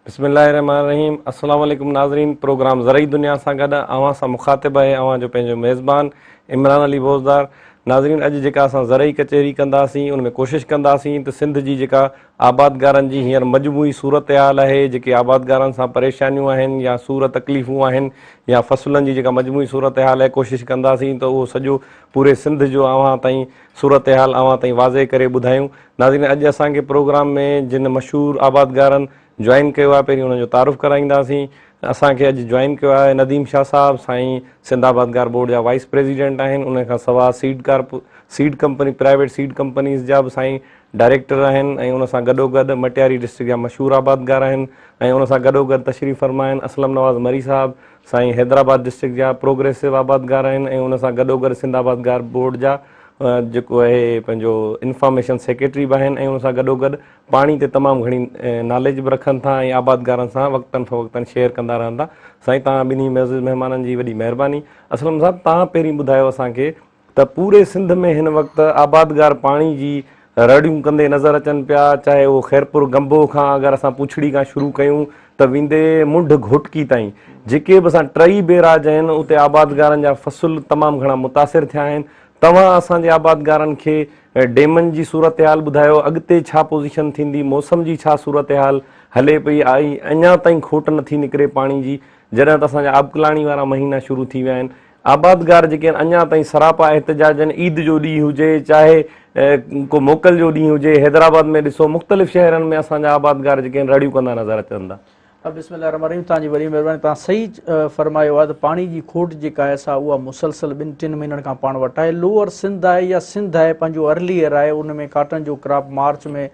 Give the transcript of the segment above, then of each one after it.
بسم الله الرحمن الرحيم السلام عليڪم ناظرين پروگرام زرعي دنيا سان گڏ اوهان سان مخاطب آهي اوهان جو پنهنجو ميزبان عمران علي بوزدار ناظرين اڄ جيڪا اسان زرعي ڪچهري ڪنداسين ان ۾ ڪوشش ڪنداسين ته سنڌ جي جيڪا آبادگارن جي هينئر مجموعي صورتحال آهي، جيڪي آبادگارن سان پريشانيون آهن يا سور تڪليفون آهن يا فصلن جي جيڪا مجموعي صورتحال آهي ڪوشش ڪنداسين ته اهو سڄو پوري سنڌ جو اوهان تائين صورتحال اوهان تائين واضح ڪري ٻڌايون. ناظرين اڄ اسان کي پروگرام ۾ جن مشهور آبادگارن جوائن ڪيو آهي پهرين انهن جو تعارف ڪرائينداسين. اسان کي اڄ جوائن ڪيو آهي نديم شاهه صاحب سائين سنڌ آبادگار بورڊ جا وائيس پريزيڊنٽ آهن انهن کان سوا seed carp seed company private seed companies جا به سائين ڊائريڪٽر آهن ۽ ان سان گڏوگڏ مٽياري ڊسٽرڪٽ جا مشهور آبادگار آهن ۽ ان سان گڏوگڏ تشريف فرما آهن اسلم نواز مري صاحب سائين حيدرآباد ڊسٽرڪٽ جا پروگريسو آبادگار آهن ۽ ان سان گڏوگڏ سنڌ آبادگار بورڊ جا جيڪو اهي پنهنجو انفارميشن سيڪريٽري به آهن ۽ ان سان گڏوگڏ پاڻي تي تمام گهڻي ناليج به رکن ٿا ۽ آبادگارن سان وقتن فوقتن شيئر ڪندا رهن ٿا سائين توهان ٻنهي معزز مهمانن جي وڏي مهرباني اسلم صاحب توهان پهرين ٻڌايو اسان کي ته پوري سنڌ ۾ هن وقت آبادگار پاڻي جي رڙيون ڪندي نظر اچن پيا، چاهي اهو خيرپور گنبو کان اگر اسان پوڇڙي کان شروع ڪيون ته ويندي منڍ گهوٽڪي تائين جيڪي به اسان ٽئي بيراج آهن اتي آبادگارن جا فصل تمام گهڻا متاثر ٿيا آهن، توهان اسان جي آبادگارن کي ڊيمن جي صورتحال ٻڌايو اڳتي ڇا پوزيشن ٿيندي موسم جي ڇا صورتحال هلي پئي ۽ اڃا تائين کوٽ نٿي نڪري پاڻي جي جڏهن ته اسان جا آبڪلاڻي وارا مهينا شروع ٿي ويا آهن. آبادگار جيڪي آهن اڃا تائين سراپا احتجاج آهن عيد جو ڏينهن هجي چاهي ڪو موڪل جو ڏينهن هجي حيدرآباد ۾ ڏسو مختلف شهرن ۾ اسان جا آبادگار جيڪي آهن رڙيون ڪندا نظر اچن ٿا. بسم الله الرحمن الرحيم توهان جي وڏي مهرباني توهان صحيح فرمايو آهي ته پاڻي جي کوٽ جيڪا آهي سا اها مسلسل ٻن ٽن مهينن کان پاڻ وٽ آهي لوئر سنڌ آهي يا سنڌ آهي پنهنجو ارلي ايئر آهي ان ۾ ڪاٽن جو ڪراپ مارچ ۾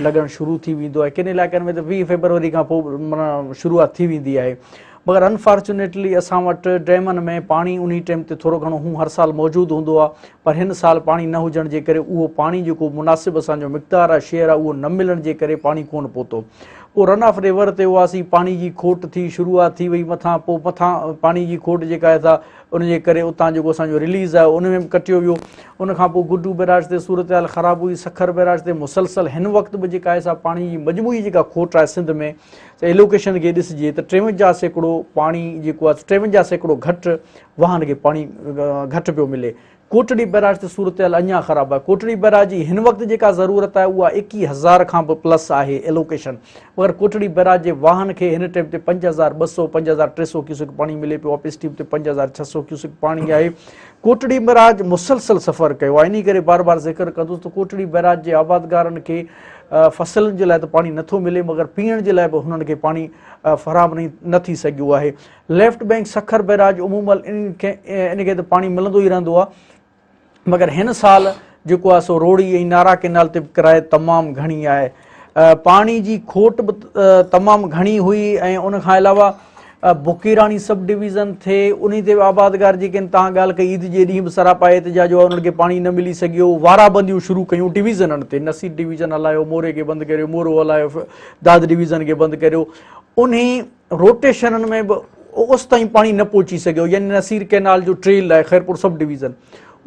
لڳڻ شروع ٿي ويندو آهي ڪن علائقن ۾ ته ويهه فيبروري کان پوء شروعات ٿي ويندي آهي مگر انفارچونيٽلي اسان وٽ ڊيمن ۾ پاڻي انهي ٽيم تي ٿورو گهڻو هون هر سال موجود هوندو آ پر هن سال پاڻي نه هجڻ جي ڪري اهو پاڻي جيڪو مناسب اسان جو مقدار آ شيئر آ اهو نه ملڻ جي ڪري پاڻي ڪون پهتو پوء رن آف ريور تي هئاسين پاڻي جي کوٽ ٿي شروعات ٿي وئي مٿان پوء مٿان پاڻي جي کوٽ جيڪا آهي سا ان جي ڪري اتان جيڪو اسان جو رليز آيو ان ۾ به ڪٽيو ويو ان کان پوء گڊو بيراج تي صورتحال خراب هئي سکر بيراج تي مسلسل هن وقت به جيڪا آهي سا پاڻي جي مجموعي جيڪا کوٽ آهي سنڌ ۾ هي لوڪيشن کي ڏسجي ته ٽيونجاهه سيڪڙو پاڻي جيڪو آهي ٽيونجاهه سيڪڙو گهٽ واهن کي پاڻي گهٽ پيو ملي ڪوٽڙي بئراج تي صورتحال اڃا خراب آهي ڪوٽڙي بئراج جي هن وقت جيڪا ضرورت آهي اها ايڪيهه هزار کان به پلس آهي ايلوڪيشن مگر ڪوٽڙي بئراج جي واهن کي هن ٽيم تي پنج هزار ٻه سؤ پنج هزار ٽي سؤ ڪيوسڪ پاڻي ملي پيو اپس ٽيم تي پنج هزار ڇهه سؤ ڪيوسڪ پاڻي آهي ڪوٽڙي بئراج مسلسل سفر ڪيو آهي انهي ڪري بار بار ذڪر ڪندس ته ڪوٽڙي بئراج جي آبادگارن کي فصلن جي لاء ته پاڻي نه ٿو ملي مگر پيئڻ جي لاء به هنن کي پاڻي فراهم نه ٿي سگهيو آهي ليفٽ بئنڪ سکر بئراج عمومل ان کي ته پاڻي ملندو ئي رهندو آهي مگر هن سال جيڪو آهي سو روڙي ۽ نارا ڪينال تي به ڪرائي تمام گهڻي آهي پاڻي جي کوٽ به تمام گهڻي هئي ۽ ان کان علاوه بوڪيراڻي سب ڊويزن ٿئي انهي تي به آبادگار جيڪي آهن تان ڳالهه ڪئي عيد جي ڏينهن به سراپا احتجاج هئا انهن کي پاڻي نه ملي سگهيو وارا بنديون شروع ڪيون ڊويزنن تي نصير ڊويزن هلايو موري کي بند ڪريو مورو هلايو داد ڊويزن کي بند ڪريو انهي روٽيشنن ۾ به اوستائين پاڻي نه پهچي سگهيو يعني نصير ڪينال جو ٽريل آهي خيرپور سب ڊويزن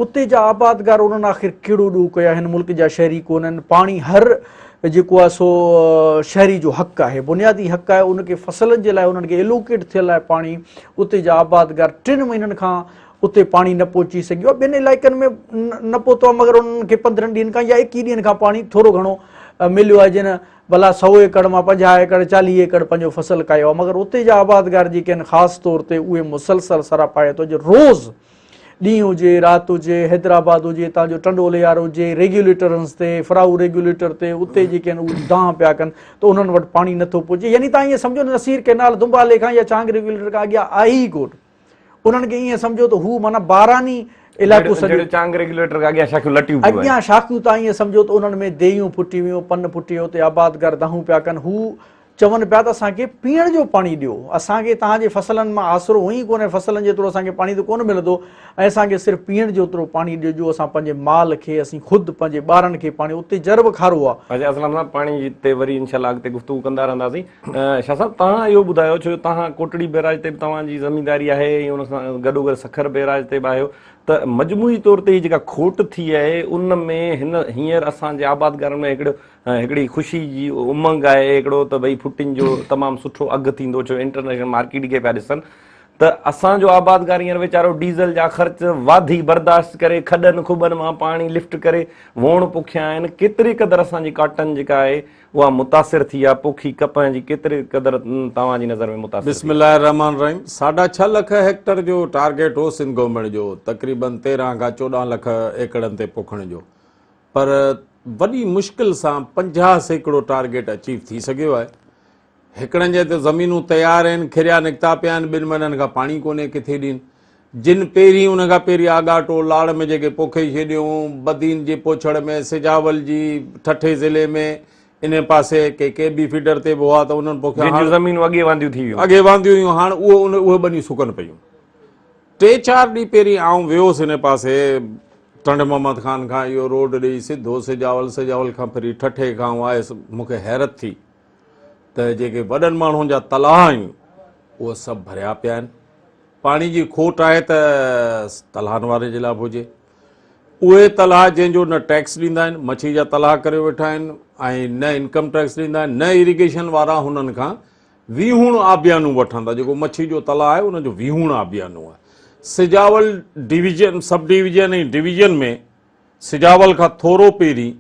اتي جا آبادگار انهن آخر ڪهڙو ڏوهه ڪيو آهي هن ملڪ جا شهري ڪونهن پاڻي هر جيڪو آهي سو شهري جو حق آهي بنيادي حق آهي ان کي فصلن جي لاء انهن کي الوڪيٽ ٿيل آهي پاڻي اتي جا آبادگار ٽن مهينن کان اتي پاڻي نه پهچي سگهيو ٻين علائقن ۾ نه پهتو آهي مگر انهن کي پندرهن ڏينهن کان يا ايڪيهه ڏينهن کان پاڻي ٿورو گهڻو مليو آهي جن ڀلا سو ايڪڙ مان پنجاهه ايڪڙ چاليهه ايڪڙ پنهنجو فصل ڪايو آهي مگر اتي جا آبادگار جيڪي آهن خاص طور تي اهي مسلسل سراپا آهي تو جو روز ڏينهن هجي رات هجي حيدرآباد هجي هتان جو ٽنڊو ليار هجي ريگيوليٽرنس تي فراهو ريگيوليٽر تي اتي جيڪي آهن اهي دانهن پيا ڪن ته انهن وٽ پاڻي نٿو پهچي يعني تان ائين سمجهو نه نصير ڪينال دمبالي کان يا چانگ ريگيوليٽر کان اڳيان آهي ئي ڪون انهن کي ائين سمجهو ته هو معنی باراني علائقو سڄو چانگ ريگيوليٽر کان اڳيان شاخيون لٽيون پيون اڳيان شاخيون تان ائين سمجهو ته انهن ۾ ديون ڦٽي ويون پن ڦٽي ويو اتي آبادگار دانهون پيا ڪن هو چون پيا ته اسان کي پيئڻ جو پاڻي ڏيو، اسان کي توهان جي فصلن مان آسرو هونئن ئي ڪونهي، فصلن جيترو اسان کي پاڻي ته ڪونه ملندو ۽ اسان کي صرف پيئڻ جيترو پاڻي ڏجو، اسان پنهنجي مال کي، اسين خود، پنهنجي ٻارن کي پاڻي اتي جرب کارو آ. حاجي اسلم صاحب پاڻي تي وري انشاء الله اڳتي گفتگو ڪندا رهنداسين. شاهه صاحب توهان اهو ٻڌايو ڇو جو توهان ڪوٽڙي بيراج تي به توهان جي زمينداري آهي ۽ ان سان گڏوگڏ سکر بيراج تي به آهيو ته مجموعي طور تي هي جيڪا کوٽ ٿي آهي ان ۾ هن هينئر اسان جي آبادگارن ۾ هڪڙو ۽ هڪڙي خوشي جي امنگ آهي هڪڙو ته ڀئي ڦٽن جو تمام سٺو اگهه ٿيندو ڇو انٽرنيشنل مارڪيٽ کي پيا ڏسن ته اسان جو آبادگارينر ويچارو ڊيزل جا خرچ واڌي برداشت ڪري کڏن کٻن مان پاڻي لفٽ ڪري ووڻ پوکيا آهن ڪيتري قدر اسان جي ڪاٽن جيڪا آهي اها متاثر ٿي آهي پوکي ڪپهه جي ڪيتري قدر توهان جي نظر ۾ متاثر بسم الله الرحمن الرحيم ساڍا ڇهه لک هيڪٽر جو ٽارگيٽ هو سنڌ گورنمينٽ جو تقريبن تيرهن کان چوڏهن لک ايڪڙن تي پوکڻ جو پر وڏي مشڪل سان پنجاهه سيڪڙو ٽارگيٽ اچيو ٿي سگهيو آهي. هڪڙن جي ته زمينون تيار آهن، کريا نڪتا پيا آهن، ٻن مهينن کان پاڻي ڪونهي، ڪٿي ڏين؟ جن پيرين ان کان پيرين آڳاٽو، لاڙ ۾ جيڪي پوکي ڇڏيون، بدين جي پوڇڙ ۾، سجاول جي ٺٽي ضلعي ۾ انهي پاسي ڪي ڪي بي فيڊر تي به هئا ته انهن پوکيا. جن جون زمينون اڳي وانديون ٿي ويون. اڳي وانديون هيون هاڻ اهي ٻنيون سڪن پيون. ٽي چار ڏينهن پهرين آئون ويو هوس هن پاسي ٽنڊ محمد خان کان اهو روڊ ڏيئي سڌو سجاول سجاول کان ڦري ٺٺي کان آئون آيس مون کي حيرت ٿي ته جيڪي وڏن ماڻهن جا تلاء آهن اهي سڀ ڀريا پيا آهن پاڻي جي کوٽ آهي ته تلاهن واري جي لاء به هجي اهي تلاء جنهن جو نه ٽيڪس ڏيندا آهن مڇي جا تلاء ڪري ويٺا آهن ۽ نه انڪم ٽيڪس ڏيندا آهن نه ايريگيشن وارا هنن کان ويهوڻ آبيانو وٺن ٿا جيڪو مڇي جو تلاء آهي ان جو ويهوڻ آبيانو آهي Sujawal division sub division ۽ division ۾ Sujawal کان ٿورو پهرين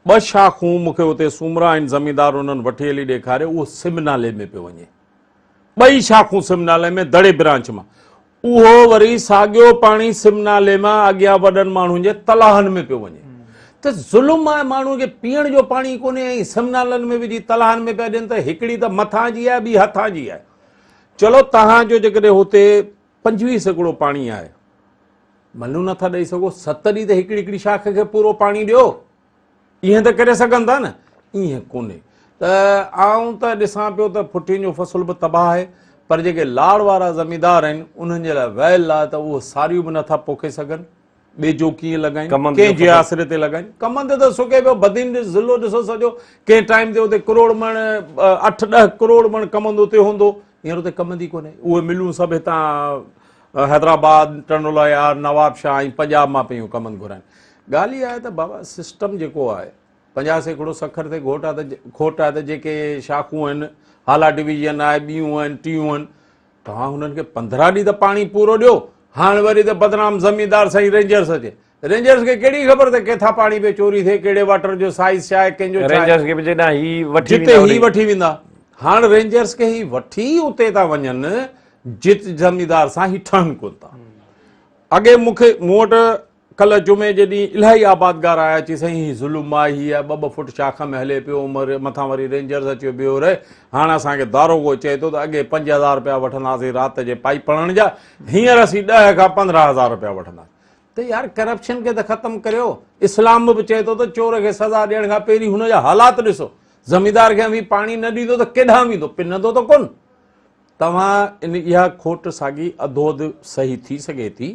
ٻه شاخون مون کي اتي سومرا آهن زميندار انهن وٺي هلي ڏيکاريو اهو سم نالي ۾ پيو وڃي ٻئي شاخون سم نالي ۾ دڙي برانچ مان اهو وري ساڳيو پاڻي سم نالي مان اڳيان وڏن ماڻهن جي تلاهن ۾ پيو وڃي ته ظلم آهي ماڻهن کي پيئڻ جو پاڻي ڪونهي ۽ سم نالن ۾ وجهي تلاهن ۾ پيا ڏين ته هڪڙي ته مٿان جي آهي ٻي هٿان جي آهي چلو تهان جو جيڪڏهن هتي پنجويهه سيڪڙو پاڻي آهي ملون نٿا ڏئي سگهو ست ڏينهن ته هڪڙي هڪڙي شاخ کي پورو پاڻي ڏيو ايئن ته ڪري سگهن ٿا نه؟ ايئن ڪونهي ته آئون ته ڏسان پيو ته ڦٽين جو فصل به تباهه آهي پر جيڪي لاڙ وارا زميندار آهن انهن جي لاء ويل آهي ته اهو ساريون به نٿا پوکي سگهن ٻيجو ڪيئن لڳائين ڪنهن جي آسري تي لڳائين ڪمن تي ته سڪي پيو بدين جو ضلعو ڏسو سڄو ڪنهن ٽائيم تي اتي ڪروڙ مڻ اٺ ڏهه ڪروڙ مڻ ڪمند اتي هوندو هينئر اتي ڪم ڌي ڪونهي. اهي ملون سڀ هتان حيدرآباد، ٽنڊولايار، نوابشاهه ۽ پنجاب مان پيون ڪمند گهرائين. ڳالهه اها آهي ته بابا سسٽم جيڪو آهي، پنجاهه سيڪڙو سکر تي گهوٽ آهي ته کوٽ آهي ته جيڪي شاخون آهن، هالا ڊويزن آهي، ٻيون آهن، ٽيون آهن، توهان هنن کي پندرهن ڏينهن ته پاڻي پورو ڏيو، هاڻ وري ته بدنام زميندار سائين رينجرس اچي. رينجرز کي ڪهڙي خبر ته ڪٿان پاڻي پئي چوري ٿئي، ڪهڙي واٽر جو سائيز ڇا آهي، ڪنهن جو ڇا آهي. رينجرز کي به جي ڏانهن هي وٺي ويندا. جتي هي وٺي ويندا. هاڻ رينجرز کي هي وٺي اتي ٿا وڃن جت زميندار سان هي ٺهن ڪونه ٿا. اڳي مون کي مون وٽ ڪلهه جمعي جي ڏينهن الاهي آبادگار آيا چي سائين هي ظلم آهي هي آهي ٻه ٻه فوٽ شاخ ۾ هلي پيو مٿان وري رينجرز اچيو بيهو رهي هاڻ اسان کي داروغو چئي ٿو ته اڳي پنج هزار رپيا وٺنداسين رات جي پائيپ پڙهڻ جا هينئر اسين ڏهه کان پندرهن هزار رپيا وٺنداسين. ته يار ڪرپشن کي ته ختم ڪريو اسلام به چئي ٿو ته چور کي سزا ڏيڻ کان پهرين هن جا حالات ڏسو زميندار کي اوهين پاڻي نه ڏيندو ته ڪيڏانهن ويندو پنندو ته ڪون توهان ان اها کوٽ ساڳي اڌو اڌ صحيح ٿي سگهي ٿي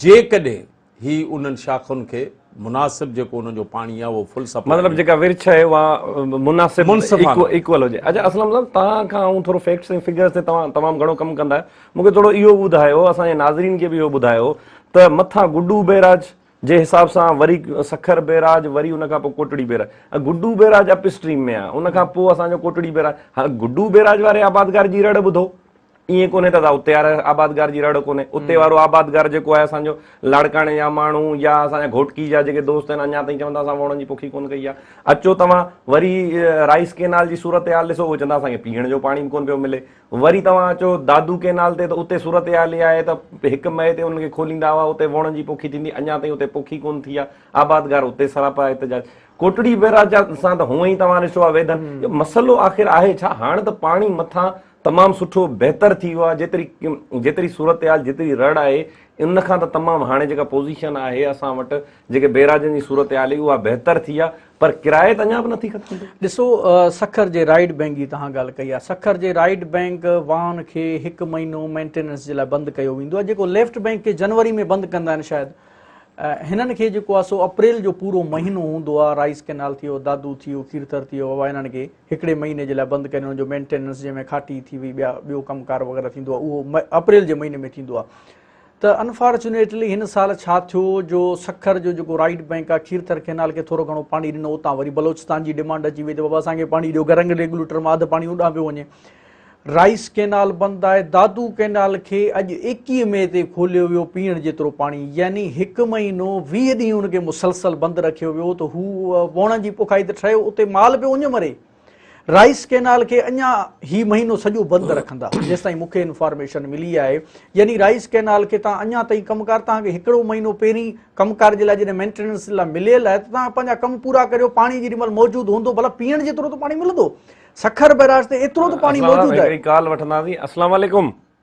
جيڪڏهن هي انهن شاخن کي مناسب جيڪو انهن جو پاڻي آهي اهو فل سپلاء مطلب جيڪا ورڇ آهي اها مناسب ايڪوئل هجي اچا اسلام صاحب توهان کان آئون ٿورو فيڪٽس ۽ فگرز تي توهان تمام گهڻو ڪم ڪندا آهيو مون کي ٿورو اهو به ٻڌايو، اسان جي ناظرين کي به اهو ٻڌايو ته مٿان گڊو بئراج جي حساب سان وري سکر بئراج وري ان کان پوء Kotri barrage Guddu barrage upstream ۾ آهي ان کان پوء اسان جو ڪوٽڙي بئراج هاڻ گڊو بئراج واري آبادگار جي رڙ ٻڌو ائين ڪونهي ته اتي واري آبادگار جي رڙ ڪونهي اتي وارو آبادگار جيڪو آهي اسان جو لاڙڪاڻي جا ماڻهو يا اسان جا گهوٽڪي جا جيڪي دوست آهن اڃا تائين چوندا اسان ووڻن جي پوکي ڪونه ڪئي آهي اچو توهان وري رائيس ڪينال جي صورتحال ڏسو اهي چوندا اسان کي پيئڻ جو پاڻي به ڪونه پيو ملي وري توهان اچو دادو ڪئنال تي ته اتي صورتحال اها آهي ته هڪ مئي تي انهن کي کوليندا هئا، اتي ووڻن جي پوکي ٿيندي، اڃا تائين اتي پوکي ڪونه ٿي آهي، آبادگار اتي سراپا احتجاج. ڪوٽڙي بئراج جا سان ته هونئن ئي توهان ڏسو آهي ويڌن، اهو مسئلو آخر آهي ڇا؟ هاڻ ته پاڻي مٿان تمام سٺو بهتر ٿي ويو آهي، جيتري جيتري صورتحال جيتري رڙ آهي ان کان ته تمام هاڻي جيڪا پوزيشن آهي اسان وٽ جيڪي بئراجن جي صورتحال هئي اها بهتر ٿي آهي، پر ڪرايت اڃا به نٿي ختم ٿي. ڏسو سکر جي رائيڊ بئنڪ جي توهان ڳالهه ڪئي آهي سکر جي رائيڊ بئنڪ واهن کي هڪ مهينو مينٽيننس جي لاء بند ڪيو ويندو آهي جيڪو ليفٽ بئنڪ کي جنوري ۾ بند ڪندا آهن شايد هنن کي جيڪو آهي سو اپريل جو پورو مهينو هوندو آهي رائيس ڪينال ٿيو دادو ٿيو کيرٿر ٿيو اها هنن کي هڪڙي مهيني جي لاء بند ڪن هنن جو مينٽيننس جنهن ۾ کاٽي ٿي وئي ٻيا ٻيو ڪم ڪار وغيره ٿيندو آهي اهو اپريل جي مهيني ۾ ٿيندو آهي ته انفارچونيٽلي هن سال ڇا ٿيو جو سکر جو جيڪو رائيٽ بئنڪ آهي کيرٿر ڪئنال کي ٿورو گهڻو پاڻي ڏنو اتان وري بلوچستان جي ڊمانڊ اچي وئي ته بابا اسان کي پاڻي ڏيو گرنگ ريگوليٽر مان اڌ پاڻي اوڏانهن پيو وڃي رائيس ڪئنال بند آهي دادو ڪئنال کي اڄ ايڪيهه مئي تي کوليو ويو پيئڻ جيترو پاڻي يعني هڪ مهينو ويهه ڏينهن ان کي مسلسل بند رکيو ويو ته هو ووڻن جي پوکائي ته ٺهيو اتي مال پيو اڃ مري رائيس ڪينال کي اڃا هي مهينو سڄو بند رکندا جيستائين مونکي انفارميشن ملي آهي يعني رائيس ڪينال کي تان اڃا تائين ڪم ڪار تان کي هڪڙو مهينو پهرين ڪم ڪار جي لاء جڏهن مينٽيننس لاء مليل آهي تان پنهنجا ڪم پورا ڪريو پاڻي جي مل موجود هوندو بلا پيڻ جي طور ته پاڻي ملندو سکر بيراج تي ايترو ته پاڻي موجود آهي ڪال وٺنداسين السلام عليڪم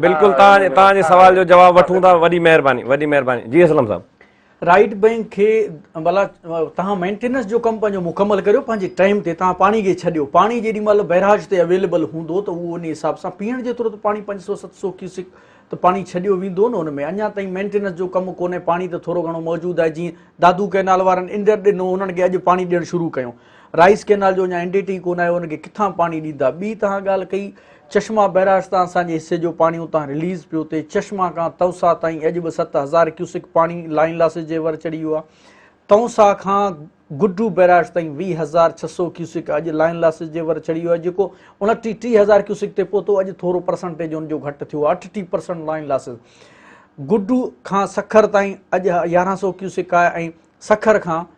بلڪل توهان جي سوال جو جواب وٺون ٿا وڏي مهرباني وڏي مهرباني جي اسلم صاحب رائيٽ بينڪ کي بلا توهان مينٽيننس جو ڪم پنهنجو مڪمل ڪريو پنهنجي ٽائيم تي توهان پاڻي کي ڇڏيو پاڻي جيڏي مهل بيراج تي اويليبل هوندو ته اهو ان حساب سان پيئڻ جيترو ته پاڻي پنج سو ست سو کيسڪ ته پاڻي ڇڏيو ويندو نه ان ۾ اڃا تائين مينٽيننس جو ڪم ڪونهي پاڻي ته ٿورو گهڻو موجود آهي جيئن دادو ڪئنال وارن انڊر ڏنو انهن کي اڄ پاڻي ڏيڻ شروع ڪيو رائيس ڪينال جو اڃا اين ڊي ٽي ڪونه آيو ان کي ڪٿان پاڻي ڏيندا ٻي تهان ڳالهه ڪئي چشما بئراج تان اسان جي حصي جو پاڻي اتان رليز پيو ٿئي چشما کان تونسا تائين اڄ به ست هزار ڪيوسڪ پاڻي لائن لاسز جي ور چڙهي ويو آهي تونسا کان گڊو بئراج تائين ويهه هزار ڇهه سو ڪيوسڪ اڄ لائن لاسز جي ور چڙهي ويو آهي جيڪو انٽي ٽي هزار ڪيوسڪ تي پهتو اڄ ٿورو پرسنٽيج ان جو گهٽ ٿيو اٺ ٽي پرسنٽ لائن لاسز گڊو کان سکر تائين اڄ يارهن سو ڪيوسڪ آهي ۽ سکر کان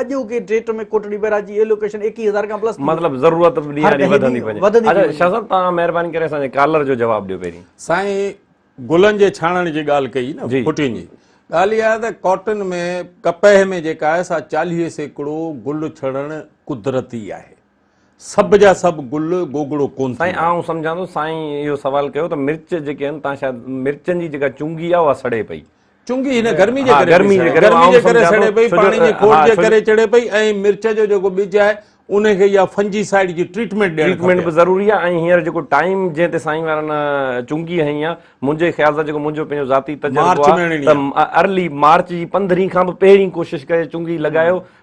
اڄوڪي ڊيٽ ۾ ڪوٽڙي بئراج جي ايلوڪيشن ايڪيهه هزار کان پلس ٿي وئي. مطلب ضرورت به ڏينهان ڏينهن وڌندي وڃي. وڌندي ٿي وڃي. شاهه صاحب توهان مهرباني ڪري اسان جي ڪالر جو جواب ڏيو پهرين. سائين گلن جي ڇاڻڻ جي ڳالهه ڪئي نه ڦٽين جي ڳالهه اها ته ڪاٽن ۾ ڪپهه ۾ جيڪا آهي سا چاليهه سيڪڙو گل ڇڻڻ قدرتي آهي. سڀ جا سڀ گل گوگڙو ڪون ٿيندا. سائين آئون سمجهان ٿو سائين اهو سوال ڪيو ته مرچ جيڪي آهن تان شايد مرچن جي جيڪا چنگي آهي اها سڙي پئي. چنگي هن گرمي جي ڪري پئي سڙي. گرمي جي ڪري سڙي پئي پاڻي جي کوٽ جي ڪري چڙي پئي ۽ مرچ جو جيڪو ٻج آهي ان کي اها فنجي سائيڊ جي ٽريٽمينٽ ڏيڻ کپي. ٽريٽمينٽ به ضروري آهي ۽ هينئر جيڪو ٽائيم جنهن تي سائين وارن چنگي هنئي آهي منهنجي خيال سان جيڪو منهنجو پنهنجو ذاتي تجربو آهي ته ارلي مارچ جي پندرهين کان به پهرين ڪوشش ڪري چنگي لڳايو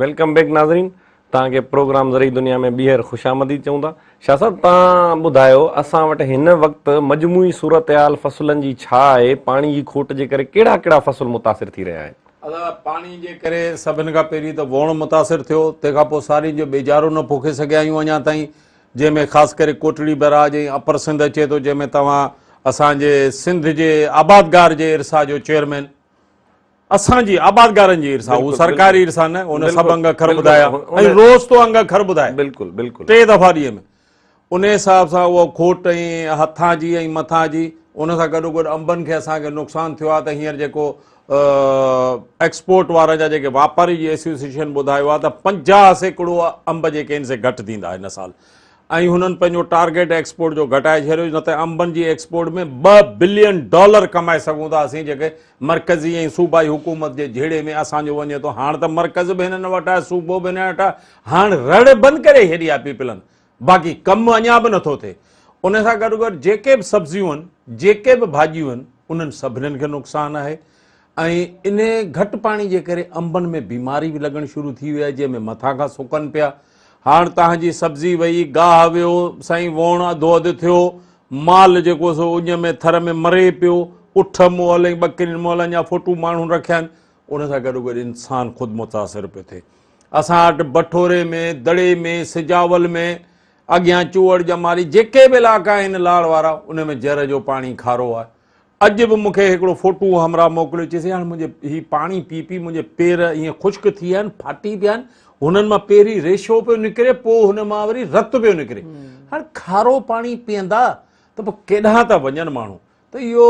ويلڪم بيڪ ناظرين توهان کي پروگرام زرعي دنيا ۾ ٻيهر خوش آمديد چئون ٿا شاهه صاحب توهان ٻڌايو اسان وٽ هن وقت مجموعي صورتحال فصلن جي ڇا آهي پاڻي جي کوٽ جي ڪري ڪهڙا ڪهڙا فصل متاثر ٿي رهيا آهن. ادا پاڻي جي ڪري سڀن کان پهرين ته ووڻ متاثر ٿيو تنهن کان پوء سارين جو ٻيجارو نه پوکي سگهيا آهيون اڃا تائين جنهن ۾ خاص ڪري ڪوٽڙي بئراج ۽ اپر سنڌ اچي ٿو جنهن ۾ توهان اسان جي سنڌ جي آبادگار جي ارسا جو چيئرمين اسان جي آبادگارن جي ارسا هو سرڪاري ارسا نه ان سڀ انگ اکر ٻڌايا ۽ روز تو انگ اکر ٻڌائي بلڪل بلڪل ٽي دفعا ڏينهن ۾ ان حساب سان اهو کوٽ ۽ هٿان جي ۽ مٿان جي ان سان گڏو گڏ انبن کي اسان کي نقصان ٿيو آهي ته هينئر جيڪو ايڪسپورٽ وارن جا جيڪي واپاري جي ايسوسيشن ٻڌايو آهي ته پنجاهه سيڪڙو انب جيڪي آهن سي گهٽ ٿيندا هن سال ۽ هنن پنهنجو ٽارگيٽ ايڪسپورٽ جو گهٽائي ڇڏيو نه ته انبن جي ايڪسپورٽ ۾ ٻه بلين ڊالر ڪمائي سگهون ٿا اسين جيڪي مرڪزي ۽ صوبائي حڪومت جي جهيڙي ۾ اسان جو وڃي ٿو هاڻ ته مرڪز به هنن وٽ آهي صوبو به هنن وٽ آهي هاڻ رڙ بند ڪري ڇڏي آهي پيپلن باقي ڪم اڃا به نٿو ٿئي ان سان گڏو گڏ جيڪي به سبزيون آهن جيڪي به ڀاڄيون آهن انهن سڀنين کي نقصان آهي ۽ انهي گهٽ پاڻي جي ڪري انبن ۾ بيماري به لڳڻ شروع ٿي وئي آهي جنهن ۾ مٿان کان سڪن پيا هاڻ تهان جي سبزي وئي گاهه ويو سائين ووڻ اڌو اڌ ٿيو مال جيڪو سو اڃ ۾ ٿر ۾ مري پيو اٺ مئل ۽ ٻڪرين مئل اڃا ڦوٽون ماڻهن رکيا آهن ان سان گڏو گڏ انسان خود متاثر پيو ٿئي اسان وٽ بٺوري ۾ دڙي ۾ سجاول ۾ اڳيان چوهڙ ڄماري جيڪي به علائقا آهن لاڙ وارا ان ۾ جر جو پاڻي کارو آهي اڄ به مون کي هڪڙو فوٽو همراهه موڪليو، چيسي هاڻ منهنجي هي پاڻي پي پي منهنجي پير ائين خشڪ ٿي ويا آهن، ڦاٽي پيا آهن، هنن مان پهرين ريشو پيو نڪري، پوء هن مان وري رت پيو نڪري، هاڻ کارو پاڻي پيئندا ته پوء ڪيڏانهن ٿا وڃن ماڻهو، ته اهو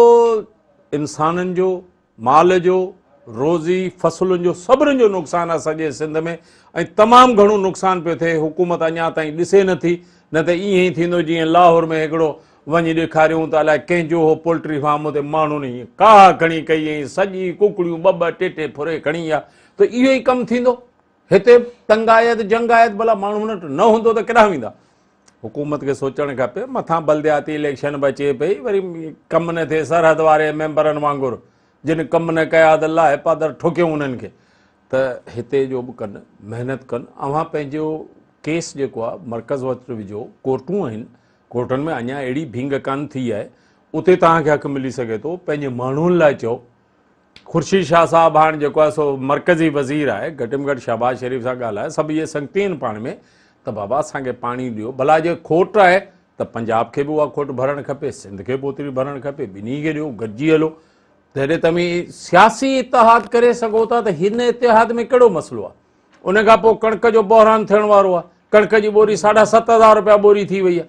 انسانن جو. مال جو، روزي، فصلن جو سڀني جو نقصان آهي سڄي سنڌ ۾ ۽ تمام گهڻو نقصان پيو ٿئي حڪومت اڃا تائين ڏسي نه ٿي نه ته ائين ئي ٿيندو جيئن لاهور ۾ هڪڙو وڃي ڏيکاريون ته الائي ڪنهن جو هو پولٽري فارم اتي ماڻهن ائين ڪاهه کڻي ڪئي ۽ سڄي ڪڪڙيون ٻه ٻه ٽي ٽي ڦري کڻي ويا ته اهو ئي ڪم ٿيندو هتي تنگ آيت جنگ آيت ڀلا ماڻهو هن وٽ نه هوندو ته ڪيڏانهن ويندا حڪومت کي سوچڻ کپي مٿان بلدياتي اليڪشن به اچي پئي وري ڪم نه ٿئي سرحد واري ميمبرن وانگر جن ڪم نه ڪيا اڌ لاهه پادر ٺوڪيون انهن کي ته هتي جو به ڪن محنت ڪن اوهان پنهنجو ڪيس جيڪو آهي مرڪز وٽ وجھو ڪورٽون آهن ڪورٽن ۾ اڃا اهڙي ڀينگ ڪانه ٿي آهي اتي توهان کي حق ملي سگھي ٿو پنهنجي ماڻهن لاء چئو خورشيد شاهه صاحب هاڻ جيڪو آهي سو مرڪزي وزير آهي گهٽ م گهٽ شهباز شريف سان ڳالهائي سڀ اهي سنگتي آهن پاڻ ۾ ته بابا اسان کي پاڻي ڏيو ڀلا جي کوٽ آهي ته پنجاب کي به اها کوٽ ڀرڻ کپي سنڌ کي به اوتري ڀرڻ کپي ٻنهي کي ڏيو گڏجي هلو جڏهن توهين سياسي اتحاد ڪري سگهو ٿا ته هن اتحاد ۾ ڪهڙو مسئلو آهي ان کان پوء ڪڻڪ جو بحران ٿيڻ وارو آهي ڪڻڪ جي ٻوري ساڍا ست هزار روپيا ٻوري ٿي وئي آهي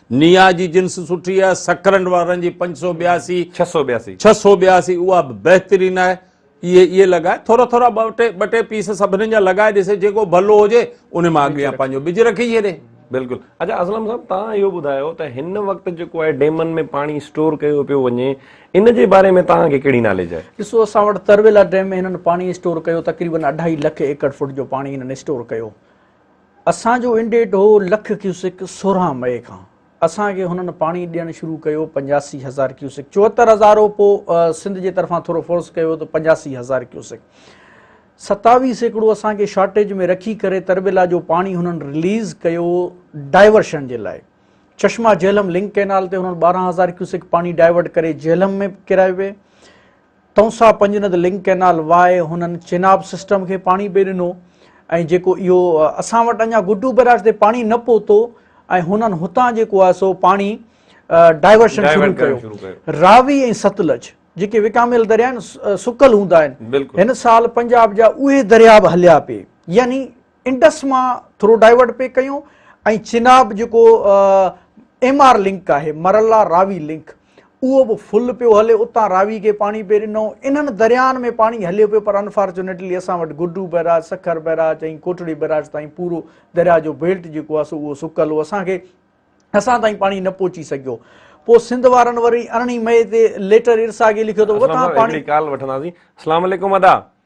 نيا جي جنس سٺي آهي، سڪرنڊ وارن جي پنج سؤ ٻياسي، ڇهه سؤ ٻياسي. ڇهه سؤ ٻياسي، اها به بهترين آهي. اهي اهي لڳائي، ٿورا ٿورا ٻه ٽي ٻه ٽي پيس سڀني جا لڳائي ڏسي، جيڪو ڀلو هجي ان مان اڳيان پنهنجو ٻج رکي ڇڏي. بلڪل. اچا اسلم صاحب توهان اهو ٻڌايو ته هن وقت جيڪو آهي ڊيمن ۾ پاڻي اسٽور ڪيو پيو وڃي ان جي باري ۾ توهان کي ڪهڙي ناليج آهي؟ ڏسو اسان وٽ ترويلا ڊيم ۾ هنن پاڻي اسٽور ڪيو تقريبن اڍائي لک ايڪڙ فوٽ جو پاڻي هنن اسٽور ڪيو. اسان جو انڊيٽ هو لک ڪيوسڪ سورهن مئي کان اسان کي هنن پاڻي ڏيڻ شروع ڪيو پنجاسي هزار ڪيوسڪ چوهتر هزار هو پوء سنڌ جي طرفان ٿورو فورس ڪيو ته پنجاسي هزار ڪيوسڪ ستاوي سيڪڙو اسان کي شارٽيج ۾ رکي ڪري تربيلا جو پاڻي هنن رليز ڪيو ڊائيورشن جي لاء چشما جهلم لنڪ ڪينال تي هنن ٻارهن هزار ڪيوسڪ پاڻي ڊائيورٽ ڪري جهلم ۾ ڪرايو وي Taunsa Panjnad link canal via هنن چيناب سسٽم کي پاڻي پئي ڏنو ۽ جيڪو اهو اسان وٽ اڃا گڊو بيراج تي پاڻي نه پهتو ۽ هنن هتان جيڪو آهي سو پاڻي ڊائيورشن شروع ڪيو راوي ۽ ستلج جيڪي وڪاميل دريا آهن سڪل هوندا آهن هن سال پنجاب جا اهي دريا به هليا پئي يعني انڊس مان ٿرو ڊائيورٽ پئي ڪيون ۽ چناب جيڪو ايم آر لنڪ آهي مرلا راوي لنڪ اهو به فل پيو هلي اتان راوي کي پاڻي پئي ڏنو انهن درياهن ۾ پاڻي هليو پيو پر انفارچونيٽلي اسان وٽ Guddu barrage Sukkur barrage ۽ Kotri barrage تائين پورو درياهه جو بيلٽ جيڪو آهي سو اهو سڪل هو اسان کي اسان تائين پاڻي نه پهچي سگهيو پوء سنڌ وارن وري ارڙهين مئي تي ليٽر ارساڳي لکيو ته اتان پاڻي ڪال وٺنداسين السلام علیڪم ادا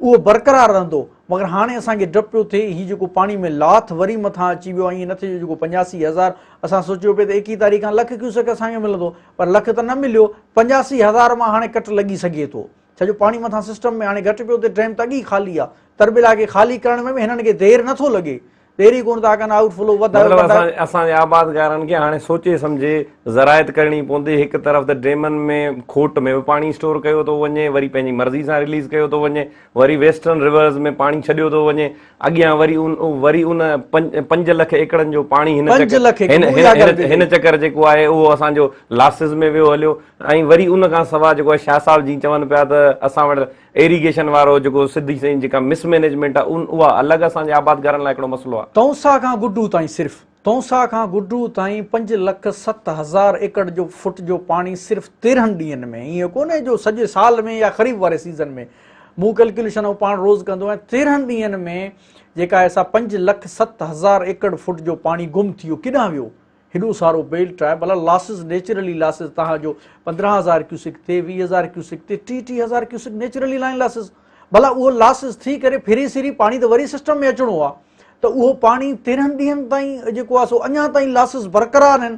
اهو برقرار رهندو مگر هاڻي اسان کي ڊپ پيو ٿئي هي جيڪو پاڻي ۾ لاٿ وري مٿان اچي ويو ائين نه ٿئي جو جيڪو پنجاسي هزار اسان سوچيو پئي ته ايڪيهه تاريخ کان لک ڪيوسڪ اسان کي ملندو پر لک ته نه مليو پنجاسي هزار مان هاڻي ڪٽ لڳي سگهي ٿو ڇا جو پاڻي مٿان سسٽم ۾ هاڻي گهٽ پيو ٿئي ڊيم ته اڳ ئي خالي آهي تربيلا کي خالي ڪرڻ ۾ به هنن کي دير نٿو لڳي پهرين ڪونه ٿا ڪن آئوٽ فلو وڌايو مطلب اسان اسان جي آبادگارن کي هاڻي سوچي سمجهي زراعت ڪرڻي پوندي هڪ طرف ته ڊيمن ۾ کوٽ ۾ به پاڻي اسٽور ڪيو ٿو وڃي وري پنهنجي مرضي سان رليز ڪيو ٿو وڃي وري ويسٽرن رورز ۾ پاڻي ڇڏيو ٿو وڃي اڳيان وري ان وري ان پنج لک ايڪڙن جو پاڻي هن هن چڪر جيڪو آهي اهو اسان جو لاسز ۾ ويو هليو ۽ وري ان کان سواء جيڪو آهي شاهه صاحب جي چون پيا ته اسان وٽ ايريگيشن وارو جيڪو سڌي سنئين جيڪا مس مينيجمينٽ آ ان اها الڳ اسان جي آباد گهرن لاء هڪڙو مسئلو آ. تونسا کان گڊو تائين صرف تونسا کان گڊو تائين پنج لک ست هزار ايڪڙ جو فٽ جو پاڻي صرف تيرهن ڏينهن ۾ ائين ڪونهي جو سڄي سال ۾ يا خريف واري سيزن ۾ مون ڪلڪيليشن آئون پاڻ روز ڪندو آهيان تيرهن ڏينهن ۾ جيڪا ايسا پنج لک ست هزار ايڪڙ فٽ جو پاڻي گم ٿي ويو ڪيڏانهن ويو هيڏو سارو بيل ٽرائي بلا لاسز نيچرلي لاسز تنهن جو پندرهن هزار ڪيوسڪ تي ويهه هزار ڪيوسڪ تي ٽي ٽي هزار ڪيوسڪ نيچرلي لائن لاسز بلا اهو لاسز ٿي ڪري ڦري سري پاڻي ته وري سسٽم ۾ اچڻو آهي ته اهو پاڻي تيرهن ڏينهن تائين جيڪو آهي سو اڃا تائين لاسز برقرار آهن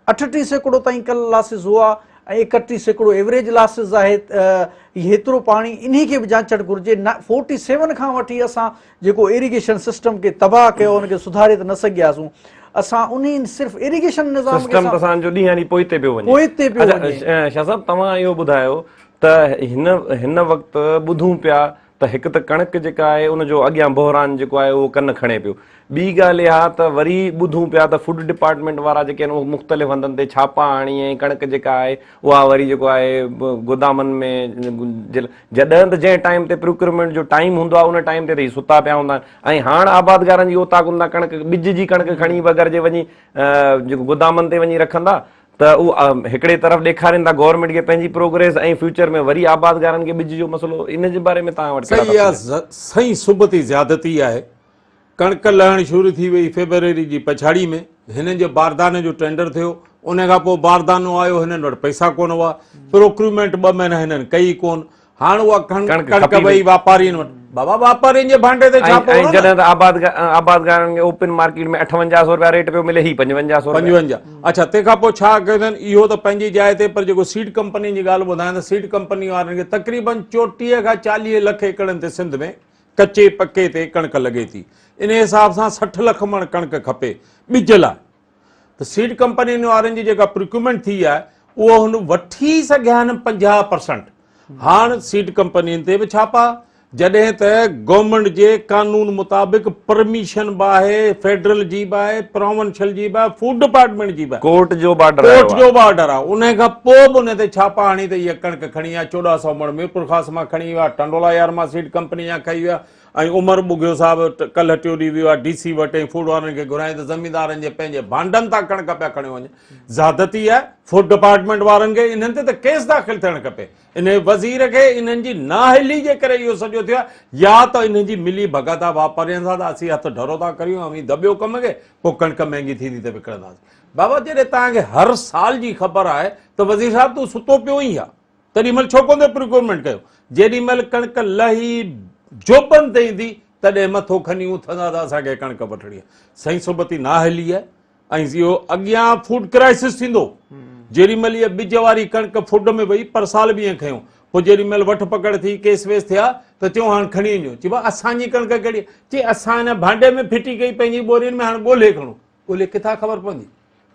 اٺٽي سيڪڙو تائين کل لاسز هئا ۽ اڪٽي سيڪڙو ايوریج لاسز آهي هيترو پاڻي انهي کي به جانچڻ گهرجي فورٽي سيون کان وٺي اسان جيڪو ايريگيشن سسٽم کي تباهه ڪيو ان کي سڌاري ته نه سگهياسون اسان انهي صرف ايريگيشن نظام کي سسٽم ته اسان جو ڏينهن ڏينهن پوئتي پيو وڃي پوئتي پيو وڃي شاهه صاحب توهان اهو ٻڌايو ته هن هن وقت ٻڌون پيا ته هڪ ته ڪڻڪ جيڪا آهي ان جو اڳيان بحران جيڪو آهي اهو ڪن کڻي پيو ٻي ڳالهه اها ته وري ٻڌون پيا ته فوڊ ڊپارٽمينٽ وارا جيڪي آهن اهو مختلف هنڌن تي ڇاپا هڻي ۽ ڪڻڪ جيڪا آهي اها وري جيڪو آهي گودامن ۾ جڏهن ته جنهن ٽائيم تي پروڪيورمينٽ جو ٽائيم هوندو آهي ان ٽائيم تي ته هي ستا پيا هوندا آهن ۽ هاڻ آبادگارن جي اوطاقن تان ڪڻڪ ٻج جي ڪڻڪ کڻي به اگر جي وڃي جيڪو گودامن تي وڃي رکندا ته اهو هڪڙي طرف ڏيکارين ٿا گورنمينٽ کي پنهنجي پروگريس ۽ فيوچر ۾ وري آبادگارن کي ٻج جو مسئلو ان جي باري ۾ توهان وٽ ڪهڙا سائين سبتي زيادتي آهي ڪڻڪ لهڻ شروع ٿي وئي، فيبروري جي پڇاڙي ۾ هنن جي بارداني جو ٽينڊر ٿيو، ان کان پوء باردانو آيو، هنن وٽ پئسا ڪونه هئا، پروڪريومينٽ ٻه مهينا هنن ڪئي ئي ڪونه، هاڻ اها ڪڻڪ وئي واپارين وٽ، بابا واپارين جي ڀانڊي تي ڇاپو هڻو نه. ۽ جڏهن ته آبادگارن کي اوپن مارڪيٽ ۾ اٺونجاهه سئو رپيا ريٽ پيو ملي، هي پنجونجاهه سئو رپيا. پنجونجاهه، اڇا تنهن کان پوء ڇا ڪيو اٿن، اهو ته پنهنجي جاء تي پر جيڪو سيڊ ڪمپنين جي ڳالهه ٻڌايان ته سيڊ ڪمپني وارن کي تقريبن چوٽيهه کان چاليهه لک ايڪڙن تي سنڌ ۾ ڪچي پڪي تي ڪڻڪ لڳي ٿي ان حساب سان سٺ لک مڻ ڪڻڪ کپي ٻج لاء ته سيڊ ڪمپنين وارن جي جيڪا پريڪومينٽ ٿي آهي اهو هن وٺي سگهيا آهن پنجاهه پرسنٽ هاڻ سيڊ ڪمپنين تي به ڇاپا جڏهن ته گورنمنٽ جي قانون مطابق پرميشن به آهي فيڊرل جي به آهي پراونشل جي به آهي فوڊ ڊپارٽمنٽ جي به ڪورٽ جو بارڊر ڪورٽ جو بارڊر آهي ان کان پوء به ان تي ڇاپا هڻي ته اها ڪڻڪ کڻي ويا چوڏهن سئو مڙ ميرپورخاص مان کڻي ويو آهي ٽنڊولا يار مان سيڊ ڪمپني جا کئي ويا ۽ عمر ٻگهيو صاحب ڪلهه ٽيو ڏينهن ويو آهي ڊي سي وٽ ۽ فوڊ وارن کي گهرايائين ته زميندارن جي پنهنجي ڀانڊن تان ڪڻڪ پيا کڻيو وڃن زيادتي آهي فوڊ ڊپارٽمينٽ وارن کي انهن تي ته ڪيس داخل ٿيڻ کپي انهي وزير کي انهن جي نااهلي جي ڪري اهو سڄو ٿيو آهي يا ته انهن جي ملي ڀڳت آهي واپارين سان ته اسين هٿ ڍرو ٿا ڪريون اوهين دٻيو ڪم کي پوء ڪڻڪ مهنگي ٿيندي ته وڪڻنداسين بابا جڏهن توهان کي هر سال جي خبر آهي ته وزير صاحب تون ستو پيو هئين ڇا؟ تڏهن مهل ڇو ڪونه ٿي پروڪيورمينٽ ڪيو؟ جيڏي مهل ڪڻڪ لهي جوبن تي ايندي تڏهن مٿو کڻي اٿندا ته اسان کي ڪڻڪ وٺڻي آهي. سائين صحبتي نااهلي آهي ۽ اهو اڳيان فوڊ ڪرائسس ٿيندو. جيڏي مهل اها ٻج واري ڪڻڪ فوڊ ۾ وئي پرسال به ائين کنيو. پوء جيڏي مهل وٺ پڪڙ ٿي ڪيس ويس ٿيا ته چيو هاڻ کڻي وڃو. چئبو آهي اسان جي ڪڻڪ ڪهڙي آهي؟ چئي اسان هن ڀانڊي ۾ ڦٽي ڪئي پنهنجي ٻورين ۾ هاڻ ڳولهي کڻو. ڳولي ڪٿان خبر پوندي؟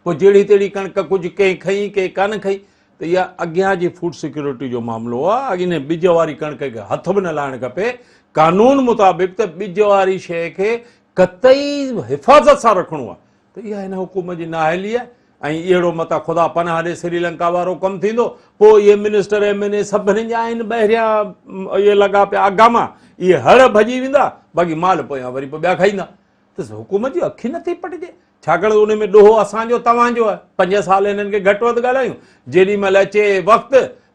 پوء جهڙي تهڙي ڪڻڪ ڪجهه ڪنهن کئي ڪنهن ڪانه کئي ته اها اڳيان جي فوڊ سيڪيورٽي جو معاملو آهي اڳ انهي ٻج واري ڪڻڪ کي هٿ به نه لائڻ کپي قانون مطابق ته ٻج واري شيء کي قطعي حفاظت سان رکڻو آهي ته اها هن حڪومت جي نااهلي آهي ۽ اهڙو متان خدا پناهه ڏي سري لنڪا وارو ڪم ٿيندو پوء اهي منسٽر ايم اين اي سڀني جا آهن ٻهريان اهي لڳا پيا اگاما اهي هڙ ڀڄي ويندا باقي مال پويان وري پوء ٻيا کائيندا تس حڪومت جون اکيون نه ٿي پٽجي، ڇاڪاڻ ته ان ۾ ڏوهه اسان جو توهان جو آهي، پنج سال هنن کي گهٽ وڌ ڳالهايون، جيڏي مهل اچي وقت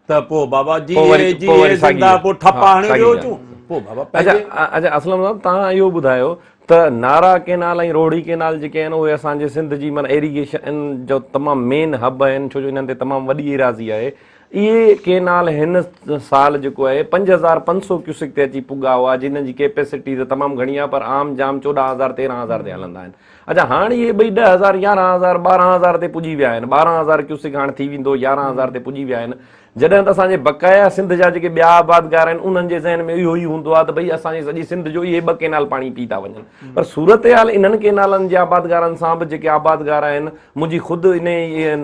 ته پوء بابا جيئي جيئي زنده پوء ٺپا هڻي ويو هجون، پوء بابا پنهنجي. اچا اسلم صاحب توهان اهو ٻڌايو ته نارا ڪينال ۽ روهڙي ڪينال جيڪي آهن اهي اسان جي سنڌ جي معنيٰ ايريگيشن جو تمام مين هب آهن ڇو جو انهن تي تمام وڏي ايراضي آهي اهي ڪينال هن سال جيڪو آهي پنج هزار پنج سؤ ڪيوسڪ تي اچي پڳا هئا جنھن جي ڪيپيسٽي ته تمام گهڻي آهي پر عام جام چوڏهن هزار تيرهن هزار تي هلندا آهن اچا هاڻ اهي ٻئي ڏهه هزار يارهن هزار ٻارهن هزار تي پڄي ويا آهن ٻارهن هزار ڪيوسڪ هاڻ ٿي ويندو يارهن هزار تي پڄي ويا آهن جڏهن ته اسان جي بقايا سنڌ جا جيڪي ٻيا آبادگار آهن انھن جي ذهن ۾ اهو ئي هوندو آهي ته ڀئي اسان جي سڄي سنڌ جو اهي ٻه ڪينال پاڻي پي ٿا وڃن پر صورتحال انھن ڪينالن جي آبادگارن سان به جيڪي آبادگار آهن منهنجي خود انهي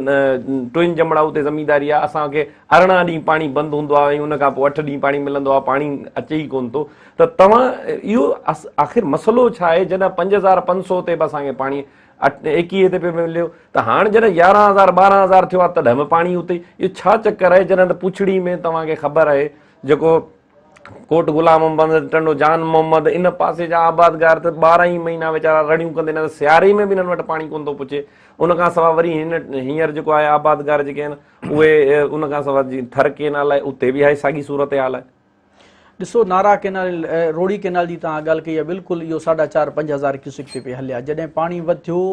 ٽوئن جمڙائو تي زمينداري آهي، اسان کي ارڙهن ڏينهن پاڻي بند هوندو آهي ۽ ان کان پوء اٺ ڏينهن پاڻي ملندو آهي، پاڻي اچي ئي ڪونه ٿو ته توهان اهو آخر مسئلو ڇا آهي؟ جڏهن پنج هزار پنج سؤ تي به اسان کي پاڻي ايڪيهه تي پيو مليو ته هاڻ جڏهن يارهن هزار ٻارهن هزار ٿيو آهي تڏهن به پاڻي اتي ئي اهو ڇا چڪر آهي؟ جڏهن ته پڇڙي ۾ توهان کي خبر آهي جيڪو ڪوٽ غلام محمد، ٽنڊو جان محمد، ان پاسي جا آبادگار ته ٻارهن ئي مهينا ويچارا رڙيون ڪندي نه ته سياري ۾ به انهن وٽ پاڻي ڪونه ٿو پچي. ان کان سواء وري هن هينئر جيڪو آهي آبادگار جيڪي آهن اهي ان کان سواء جي ٿر ڪينال آهي اتي به اهائي ساڳي صورتحال آهي. ڏسو نارا ڪينال، روڙي ڪينال جي توهان ڳالهه ڪئي آهي بلڪل اهو ساڍا چار پنج هزار ڪيوسڪ تي پئي هلي آهي جڏهن پاڻي وڌيو